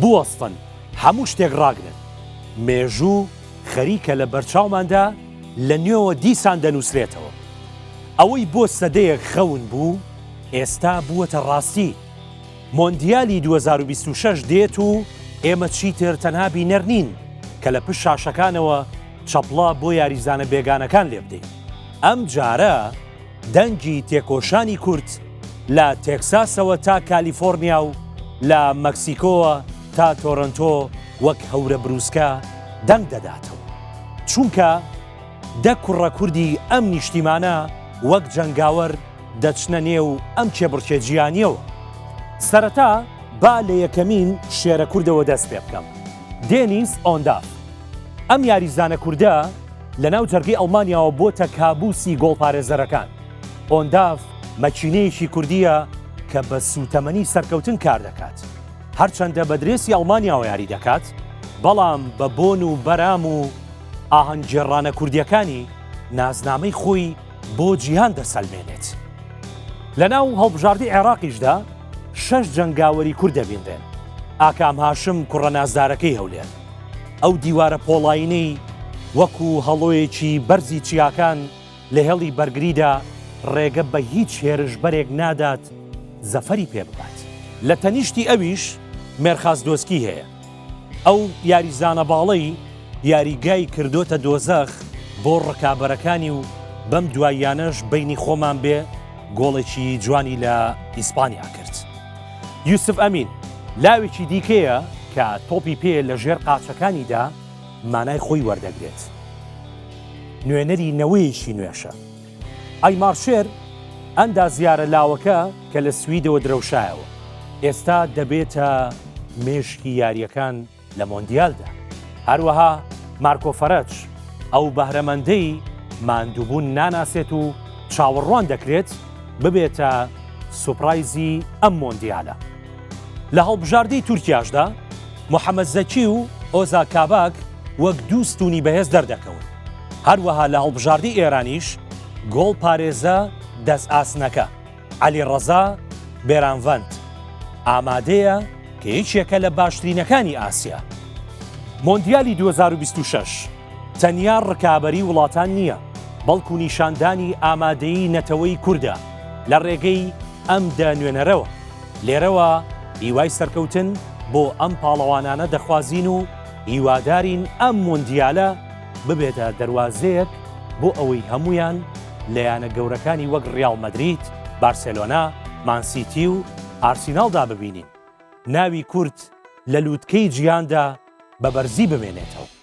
بوەستن هەموو شتێک ڕاگرن. مێژوو خەریکە لە بەرچاوماندا لە نوێوە دیسان دەنووسرێتەوە. ئەوەی بۆ سەدەیەک خەون بوو، ئێستا بووەتە ڕاستی. مۆندیالی دوو هەزار و بیست و شەش دێت و ئێمە چیتر تەنها بینەر نین کە لە پشت شاشەکانەوە چەپڵە بۆ یاریزانە بێگانەکان لێبدەین. ئەمجارە. دەنگی تێکۆشانی کورد لە تێکساسەوە تا کالیفۆرنیا و لە مەکسیکۆوە تا تۆرنتۆ وەک هەورە بروسکە دەنگ دەداتەوە چونکە دە کوڕە کوردی ئەم نیشتیمانە وەک جەنگاوەر دەچنە نێو ئەم کێبڕکێ جیانیەوە سەرەتا با لە یەکەمین شێرە کوردەوە دەست پێ بکەم دێنیس ئۆندا ئەم یاریزانە کووردە لەناو جەرگەی ئەڵمانیاوە بۆتە کابوسی گۆڵپارێزەرەکان، ئۆنداڤ مەکینەیەکی کوردییە کە بە سووتەمەنی سەرکەوتن کاردەکات، هەرچەندە بە درێسی ئەڵمانیاوە یاری دەکات، بەڵام بە بۆن و بەرام و ئاهەنگ گێڕانە کوردییەکانی نازنامەی خۆی بۆ جیهان دەسەلمێنێت. لەناو هەڵبژاردەی عێراقیشدا شەش جەنگاوەری کورد دەبینرێن، ئاکام هاشم کوڕە نازدارەکەی هەولێر، ئەو دیوارە پۆڵاینەی وەکو هەڵۆیەکی بەرزی چیاکان لە هێڵی بەرگریدا ڕێگە بە هیچ هێرشبەرێک نادات زەفەری پێ ببات. لە تەنیشتی ئەویش مێرخاس دۆسکی هەیە. ئەو یاریزانە باڵەی یاریگای کردۆتە دۆزەخ بۆ ڕکابەرەکانی و بەم دواییانەش بەینی خۆمان بێ گۆڵێکی جوانی لە ئیسپانیا کرد. یوسف ئەمین لاوێکی دیکەیە کە تۆپی پێ لە ژێر قاچەکانیدا مانای خۆی وەردەگرێت. نوێنەری نەوەیەکی نوێشە. ئای مارشێر ئەندازیارە لاوەکە کە لە سویدەوە درەوشایەوە. ئێستا دەبێتە مێشکی یاریەکان لە مۆندیالدا. هەروەها مارکۆ فەرەج ئەو بەهرەمەندەی ماندووبوون ناناسێت و چاوەڕوان دەکرێت ببێتە سوپرایزی ئەم مۆندیالە. لە هەڵبژاردەی تورکیاشدا محەمەد زەکی و ئۆزا کاباک وەک دوو ستوونی بەهێز دەردەکەون، هەروەها لە هەڵبژاردەی ئێرانیش گۆڵپارێزە دەستئاسنەکە. عەلیڕەزا بێرانڤەند ئامادەیە کە یەکێکە لە باشترینەکانی ئاسیا. مۆندیالی 2026 تەنیا ڕکابەری وڵاتان نییە، بەڵکو نیشاندانی ئامادەیی نەتەوەی کوردە لە ڕێگەی ئەم دە نوێنەرەوە. لێرەوە هیوای سەرکەوتن بۆ ئەم پاڵەوانانە دەخوازین و هیوادارین ئەم مۆندیالە، ببێتە دەروازەیەک بۆ ئەوەی هەمویان لە یانە گەورەکانی وەک ڕیاڵ مەدرید، بارسێلۆنا، مانسیتی و ئارسیناڵدا ببینین. ناوی کورد لە لوتکەی جیهاندا بە بەرزی بمێنێتەوە.